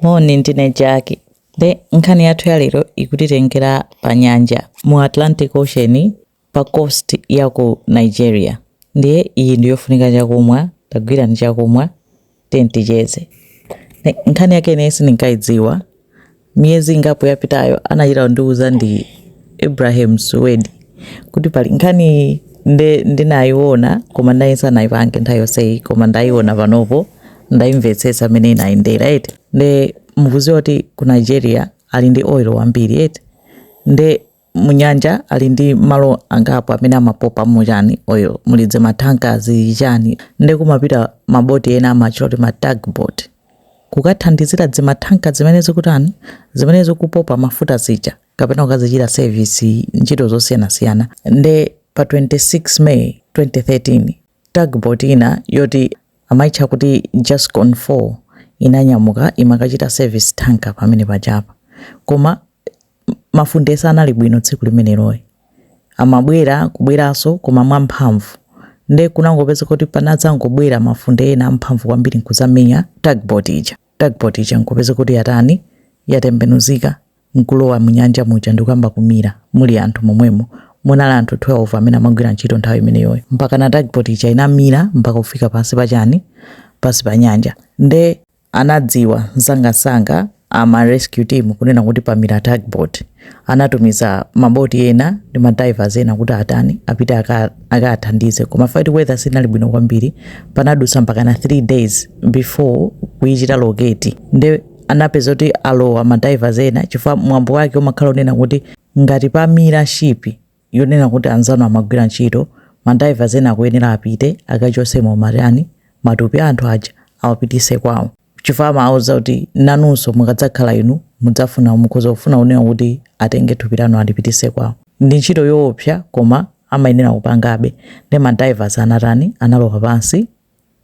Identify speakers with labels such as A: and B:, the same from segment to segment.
A: moni ndine jaki nde nkhani yathu yalero ikutitengera pa nyanja mu atlantic ocean pa coast ya ku nigeria ndiye iyi ndi yofunika chakumwa tagwirani chakumwa tenticheze Ne- nkhani yake ineyi sindinkayidziwa miyezi ingapo yapitayo anachita kundiuza ndi ibrahim suwedi kuti pali nkhani nde ndinayiona koma ndayesa nayipange nthawi yonseyi koma ndayiona panopo ndayimvetsetsa mmene inayendera eti nde mukuziwa kuti ku nigeria ali ndi oil wambiri eti nde munyanja ali ndi malo angapo amene amapopa chani oil muli dzimatanka zichani nde kumapita maboti ena amatcha kuti ma tugboat kukathandizira dzimatanka zimene zikutani zimene zikupopa mafuta zija kapena kukazichita service ntchito zosiyanasiyana nde pa 26 May 2013 tugboat ina yoti amaitcha kuti Jascon 4 inanyamuka imakachita service tanker pamene pajapa koma mafunde sanali bwino tsiku limenelo amabwera kubweranso koma mwamphamvu nde kunangopeza kuti panadzangobwera mafunde ena amphamvu kwambiri nkuzamenya tugboat ija tugboat ija nkupeza kuti yatani yatembenuzika nkulowa munyanja muja ndikuyamba kumira muli anthu momwemo munali anthu 12 amene amagwira ntchito nthawi imeneyoyo mpakana tugboat ija inamira mpaka kufika pansi pa chani pansi pa nyanja nde anadziwa msangamsanga ama rescue team kunena kuti pamira tugboat anatumiza maboti ena ndi madivers ena kuti atani apite akathandize aka koma fight weather sinali bwino kwambiri panadusa mpakana 3 days before kuyichita locate nde anapeza kuti alowa madivers ena chifukwa mwambo wake umakhala unena kuti ngati pamira shipi yonena kuti anzanu amagwira ntchito madivers ena akuyenera apite akachosemo matani matupi a anthu aja awapitise kwawo chifukwa amawauza kuti nanunso mukadzakhala inu mudzafuna mukhoza kufuna kunena kuti atenge thupi lanu alipitise kwawo ndi ntchito yoopsa koma amayenera kupangabe nde madivers anatani analowa pansi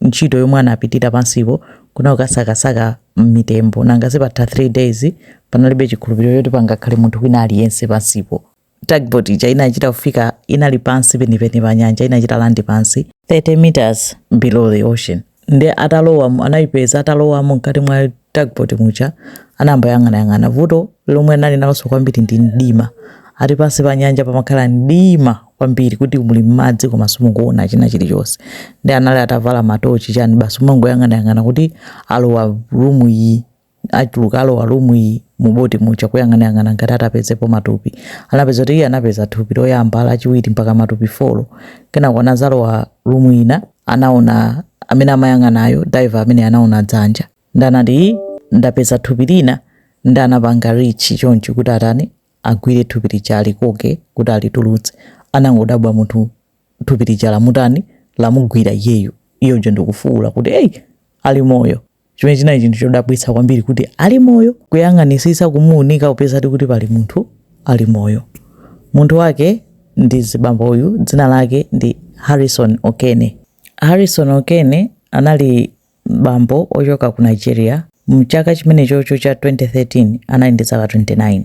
A: ntchito yomwe anapitira pansipo kunali kukasakasaka mitembo nanga si patha 3 days panalibe chikhulupiriro choti pangakhale munthu wina aliyense pansipo tugboat ija inachita kufika inali pansi penipeni pa nyanja inachita landi pansi 30 meters below the ocean nde atalowa anayipeza atalowamo mkati mwa tugboat muja anayamba kuyang'anayang'ana vuto lomwe anali nalonso kwambiri ndi mdima ati pansi pa nyanja pamakhala mdima kwambiri kuti muli mmadzi koma simukuona china chilichonse nde anali atavala matochi chani basi umangoyang'anayang'ana kuti alowa rumu iyi achuluka alowa room iyi mu boti muja kuyang'anayang'ana ngati atapezepo matupi anapeza kuti iye anapeza thupi loyamba lachiwiri mpaka matupi folo kenako anazalowa room ina anaona amene amayang'anayo diver amene anaona dzanja ndi anati "Ii, ndapeza thupi lina ndi anapanga richi chonchi kuti atani agwire thupi lija alikoke kuti alitulutse anangodabwa munthu thupi lija lamutani lamugwira iyeyo iwo aja ndikufuwula kuti eyi ali moyo chimene chinali chinthu chodabwitsa kwambiri kuti ali moyo kuyang'anisisa kumuunika kupeza kuti pali munthu ali moyo munthu wake ndi zibambo uyu dzina lake ndi harrison okene harrison okene anali bambo ochoka ku nigeria mchaka chimenechocho cha 2013 anali ndi zaka 29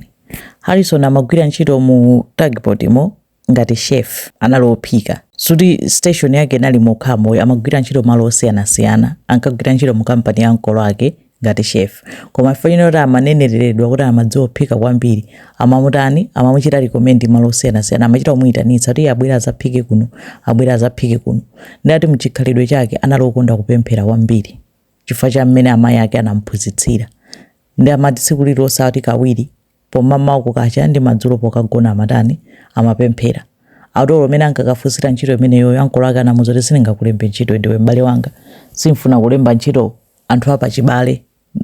A: harrison amagwira ntchito mu tugboat mo ngati chef anali ophika so kuti station yake sinali mokhamo ayi amagwira ntchito malo osiyanasiyana ankagwira ntchito mu kampani ya ankolo ake ngati chef koma chifukwa chonena kuti amanenereredwa kuti amadziwa kuphika kwambiri amamutani amamuchita recommend malo osiyanasiyana amachita kumuyitanitsa kuti iye abwere azaphike kuno abwere azaphike kuno nde ati mchikhalidwe chake anali okonda kupemphera kwambiri chifukwa cha mmene amayi ake anamphunzitsira nde amati tsiku lililonse ati kawiri Pomamawa kukacha ndi madzulo pokagona amatani? Amapemphera. Ati olo mmene ankakafunsira ntchito imeneyoyo ankolo ake anamuuza kuti sindingakulembe ntchito ndiwe m'bale wanga. Simfuna kulemba ntchito anthu a pachibale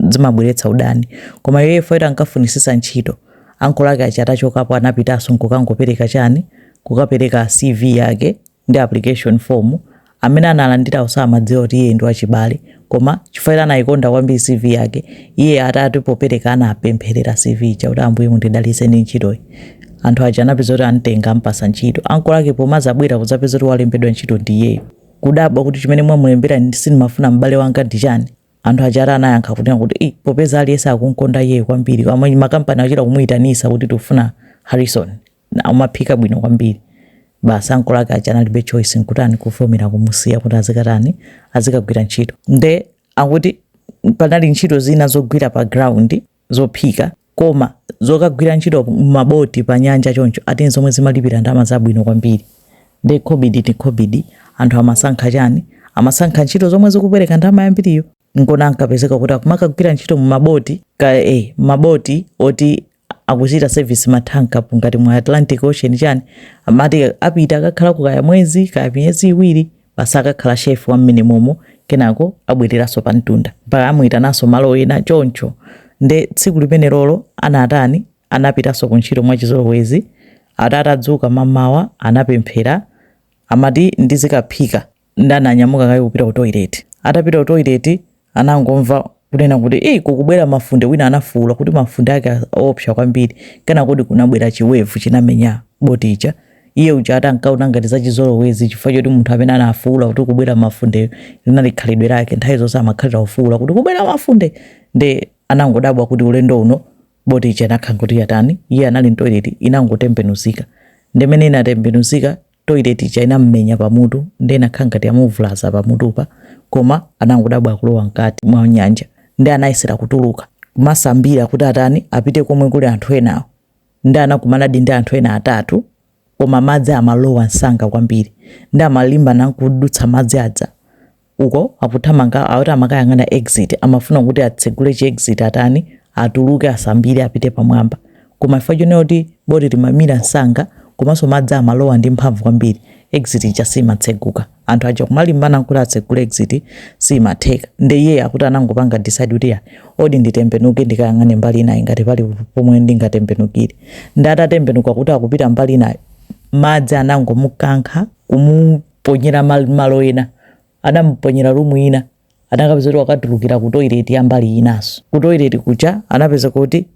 A: zimabweretsa udani. Koma iyeyo chifukwa choti ankafunisitsa ntchito, ankolo ake aja atachokapo anapitanso nkukangopereka chani? Kukapereka CV yake. ndi application form amene analandira osamadziwa kuti iye ndi wachibale koma chifukwa ija anayikonda kwambiri cv yake iye atati popereka anapempherera cv ija kuti ambuye mundidalitse ndi ntchitoyi anthu aja anapeza kuti amtenga ampasa ntchito ankolo ake pomazabwera kuzapeza kuti walembedwa ntchito ndi iyeyo kudabwa kuti chimene mwamulembera ndi- sindimafuna m'bale wanga ndi chani anthu aja ati anayankha kunena kuti "Ih, popeza aliyense akunkonda iyeyo kwambiri koma makampani achita kumuyitanisa kuti tikufuna harrison Umaphika bwino kwambiri. Basi ankolo ake aja analibe choice nkutani kuvomera kumusiya kuti azikatani azikagwira ntchito. Nde akuti panali ntchito zina zogwira pa ground zophika koma zokagwira ntchito mmaboti pa nyanja choncho ati nzomwe zimalipira ndalama zabwino kwambiri. Nde khobidi ndi khobidi anthu amasankha chani? Amasankha ntchito zomwe zikupereka ndalama yambiriyo. Nkona ankapezeka kuti akumakagwira ntchito mmaboti kaya ee mmaboti oti akuchita service ma tanker apo ngati mu Atlantic Ocean chani amati apita akakhalako kaya mwezi kaya miyezi iwiri basi akakhala chef wa mmenemomo kenako abwereranso pa mtunda mpaka amuitananso malo ena choncho nde tsiku limenelolo anatani anapitanso ku ntchito mwachizolowezi atati adzuka mamawa anapemphera amati ndizikaphika Nde ananyamuka kaye kupita ku toilet? Atapita ku toilet anangomva kunena kuti ii kukubwera mafunde wina anafuula kuti mafunde ake oopsa kwambiri kenakodi kunabwera chi wave chinamenya boat ija iye uja ati ankaona ngati zachizolowezi chifukwa choti munthu amene anafuula kuti kubwera mafundeyo linali khalidwe lake nthawi zonse amakhalira kufuula kuti kubwera mafunde nde anangodabwa kuti ulendo uno boti ija inakhala kuti yatani iye anali mtoilet inangotembenuzika ndimene inatembenuzika toilet ija inamumenya pamutu nde inakhala ngati yamuvulaza pamutupa koma anangodabwa akulowa mkati mwa nyanja nde anayesera kutuluka kumasambira kuti atani apite komwe kuli anthu enawo nde anakumanadi ndi anthu ena atatu koma madzi amalowa msanga kwambiri nde amalimbana nkudutsa madzi aja uko akuthamanga ati amakayang'ana exit amafuna kuti atsegule chi exit atani atuluke asambire apite pamwamba koma chifukwa chonena kuti boti limamira msanga komanso madzi amalowa ndi mphamvu kwambiri exit ija simatseguka anthu aja kumalimbana kuti atsegule exit simatheka nde iye akuti anangopanga decide kuti ya odi nditembenuke ndikayang'ane mbali inayi ngati pali pomwe ndingatembenukire ndi atatembenuka kuti akupita mbali inayi madzi anangomukankha kumu ponyera mal malo ena anamuponyera rumu ina anakapeza kuti wakatulukira ku toilet ya mbali inaso ku toilet kuja anapeza kuti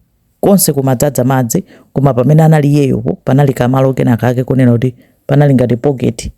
A: konse kumadzadza madzi koma pamene anali iyeyopo panali kamalo kena kake kunena kuti panali ngati pocket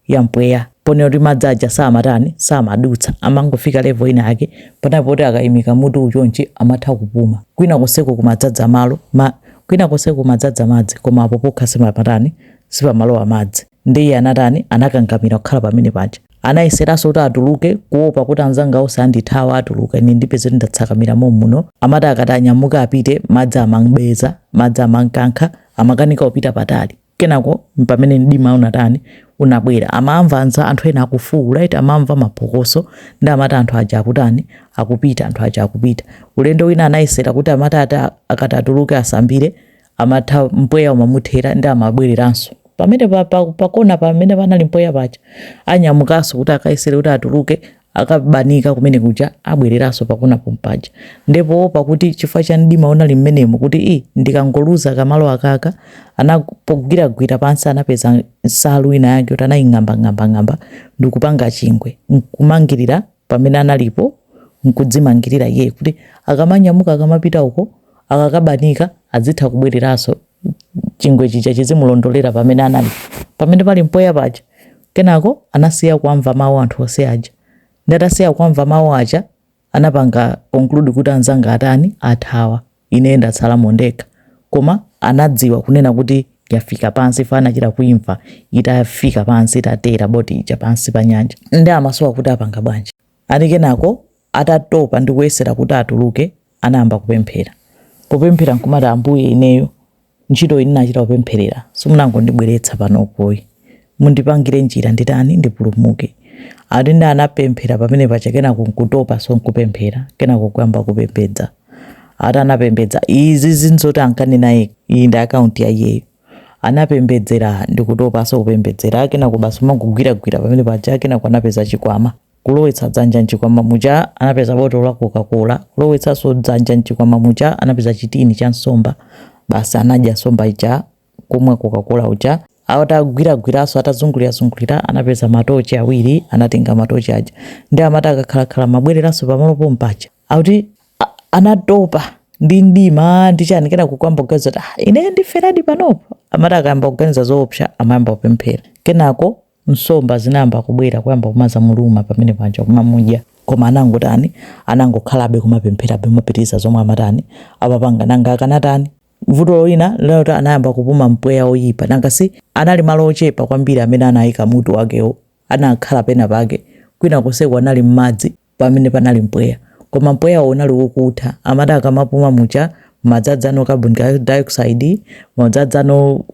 A: ya mpweya ponena kuti madzi aja samatani samadutsa amangofika level ina yake panali poti akayimika mutu chonchi amatha kupuma kwina konseko kumadzadza malo ma, kwina konseko kumadzadza madzi koma apo pokha sipamatani sipamalowa madzi Ndiye iye anatani? Anakangamira kukhala pamene paja. Anayeseranso kuti atuluke, kuwopa kuti anzanga onse andithawa, atuluka, ine ndipeza kuti ndatsakamira mommuno. Amati akati anyamuke apite, madzi amam'beza, madzi amam'kankha, amakanika kupita patali. Kenako m'pamene mdima unatani? Unabwera. Amamva anza, anthu ena akufuula, eti amamva maphokoso, ndiye amati anthu aja akutani? Akupita, anthu aja akupita. Ulendo wina anayesera kuti amati ati akati atuluke asambire, amatha mpweya umamuthera ndi amabwereranso pamene pa- pa- pakona pamene panali mpweya paja anyamukanso kuti akayesere kuti atuluke akabanika kumene kuja abwereranso pakona pompaja nde poopa kuti chifukwa cha mdima unali mmenemo kuti i ndikangoluza kamalo akaka anagwiragwira pansi anapeza nsalu ina yake kuti anaying'ambang'ambang'amba ndikupanga chingwe nkumangirira pamene analipo nkudzimangirira iyeyo kuti akamanyamuka akamapita uko akakabanika adzitha kubwereranso chingwe chija chizimulondolera pamene anali pamene pali mpweya paja kenako anasiya kuamva mawu anthu onse aja ndi atasiya kuamva mawu aja anapanga conclude kuti anzanga atani athawa ine ndatsalamo ndekha. Koma anadziwa kunena kuti yafika pansi anachita kuimva itafika pansi itatera boti ija pansi pa nyanja ndiye amasowa kuti apanga bwanji ati kenako atatopa ndi kuyesera kuti atuluke anayamba kupemphera kupemphera nkumati ambuye ineyo Ntchitoyi ine ndinachita kupempherera, simunangondibweretsa panopoyi. Mundipangire njira nditani? Ndipulumuke. Ati ndiye anapemphera pamene paja kenako nkutopanso nkupemphera kenako kuyamba kupembedza. Ati anapembedza izizi ndi zoti ankanena yekha. Iyi ndi account ya iyeyo. Anapembedzera ndikutopanso kupembedzera kenako basi umangogwiragwira pamene paja kenako anapeza chikwama. Kulowetsa dzanja m'chikwama muja anapeza botolo la kokakola, kulowetsanso dzanja m'chikwama muja anapeza chitini cha nsomba, basi anadya nsomba ija, kumwa kokakola uja. Atagwiragwiranso, atazungulirazungulira anapeza matochi awiri, anatenga matochi aja. Ndiye amati akakhalakhala amabwereranso pamalo pompaja. Akuti anatopa ndi mdima ndi chani kenako kuyamba kuganiza kuti ah, ine ndiferadi panopo. Amati akayamba kuganiza zoopsa amayamba kupemphera, kenako nsomba zinayamba kubwera kuyamba kumazamuluma pamene paja kumamudya koma anangotani anangokhalabe kumapempherabe kumapitiriza zomwe amatani amapanga nanga akanatani vuto lina linali loti anayamba kupuma mpweya woyipa nanga si anali malo ochepa kwambiri amene anayika mutu wakewo anakhala pena pake kwina konseko anali m'madzi pamene panali mpweya koma mpweyawo unali wokutha amati akamapuma muja madzadzano carbon dioxide madzadzano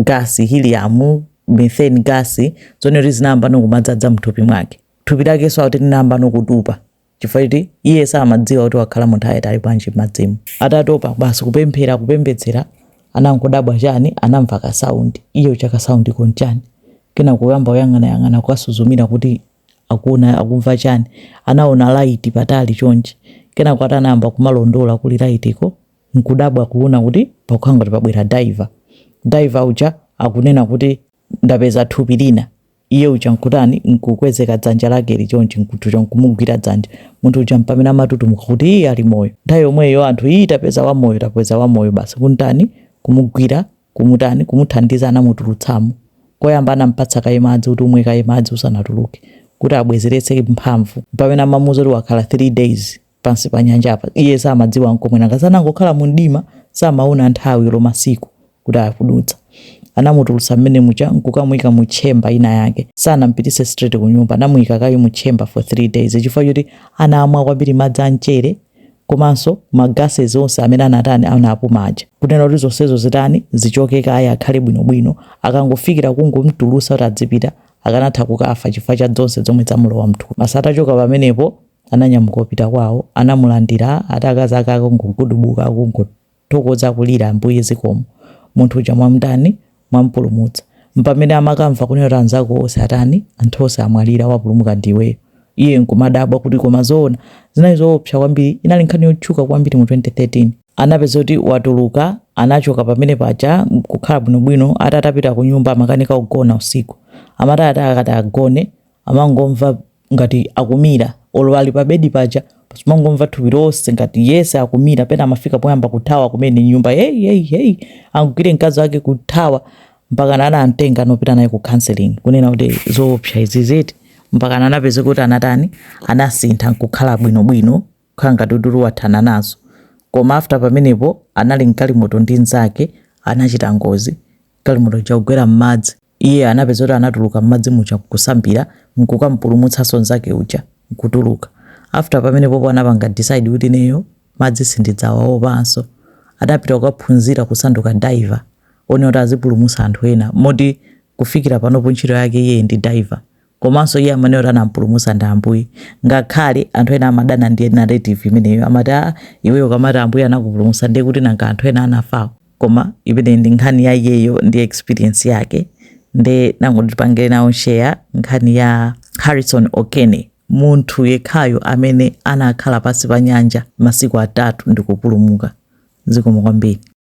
A: gasi, hiliyamu, metheni gasi, zonena kuti zinayambano kumadzadzana mthupi mwake. Thupi lakenso akuti linayambano kutupa chifukwa choti iye samadziwa kuti wakhala nthawi yaitali bwanji m'madzimu. Atatopa basi kupemphera kupembedzera anangodabwa chani anamva ka sound ii ichi ka sound ka chani kenako kuyamba kuyang'ana yang'ana kukasuzumira kuti akuona akumva chani anaona light patali chonchi kenako ati anayamba kumalondola kuli light ko nkudabwa kuona kuti pakukhala ngati pabwera diver, diver uja akunena kuti ndapeza thupi lina, iye uja nkutani, nkukwezako dzanja lakeli chonchi, nkuthucho nkumugwira dzanja, munthu uja mpamene amatutumuka kuti ii ali moyo, nthawi yomweyo anthu ii tapeza wamoyo tapeza wamoyo basi kumtani, kumugwira, kumutani, kumuthandiza anamutulutsamo, koyamba anampatsa kaye madzi kuti umwe kaye madzi usanatuluke kuti abwezeretse mphamvu, mpamene amamuuza kuti wakhala 3 days. pansi pa nyanjapa. Iye samadziwa nkomwe, nanga si anangokhala mu mdima, samawona nthawi olo masiku kuti akudutsa. Anamutulutsa mmene muja nkukamuika mu chamber ina yake. Sanampititse straight kunyumba, anamuika kaye mu chamber for 3 days chifukwa choti anamwa kwambiri madzi a mchere komanso ma gases onse amene anatani anapuma aja. Kunena kuti zonsezo zitani zichoke kaye akhale bwino bwino, akangofikira kungomtulutsa kuti adzipita akanatha kukafa chifukwa cha zonse zomwe zamulowa mthupi. Basi atachoka pamenepo. ananyamuka kupita kwawo anamulandira ati akazi ake akungogudubuka akungothokoza akulira ambuye zikomo munthu uja mwamutani mwamupulumutsa mpamene amakamva kunena kuti anzako onse atani anthu onse amwalira wapulumuka ndi iweyo iye nkumadabwa kuti koma zoona zinali zoopsa kwambiri inali nkhani yotchuka kwambiri mu 2013 anapeza kuti watuluka anachoka pamenepaja kukhala bwinobwino ati atapita ku nyumba amakanika kugona usiku amati ati akati agone amangomva ngati akumira olo ali pa bedi paja amangomva thupi lonse ngati yese akumira pena amafika poyamba kuthawa kumene nyumba hey, hey, hey. angugwire mkazi wake kuthawa mpaka anamtenga nkupita naye ku counseling kunena kuti zoopsa izi ziti mpaka anapeza kuti anatani anasintha nkukhala bwinobwino kukhala ngati udulu wathana nazo koma after pamenepo anali mgalimoto ndi nzake anachita ngozi mgalimoto yakugwera m'madzi Iye anapeza kuti anatuluka mmadzi muja nkusambira nkukamupulumutsanso nzake uja nkutuluka. After pamenepopo anapanga decide kuti ineyo madzi sindidzawaopanso. Adapita kukaphunzira kusanduka diver onena kuti azipulumutsa anthu ena moti kufikira panopo ntchito yake iyeyi ndi diver Komanso iye amanena kuti anampulumusa ndi Ambuye. Ngakhale anthu ena amadana ndi narrative imeneyo, amati ah iweyo ukamati Ambuye anakupulumusa ndiye kuti nanga anthu ena anafawo. Koma imeneyi ndi nkhani ya iyeyo ndi experience yake. Nde nangoti tipangireko share nkhani ya Harrison Okene, munthu yekhayo amene anakhala pansi pa nyanja masiku atatu ndikupulumuka. Zikomo kwambiri.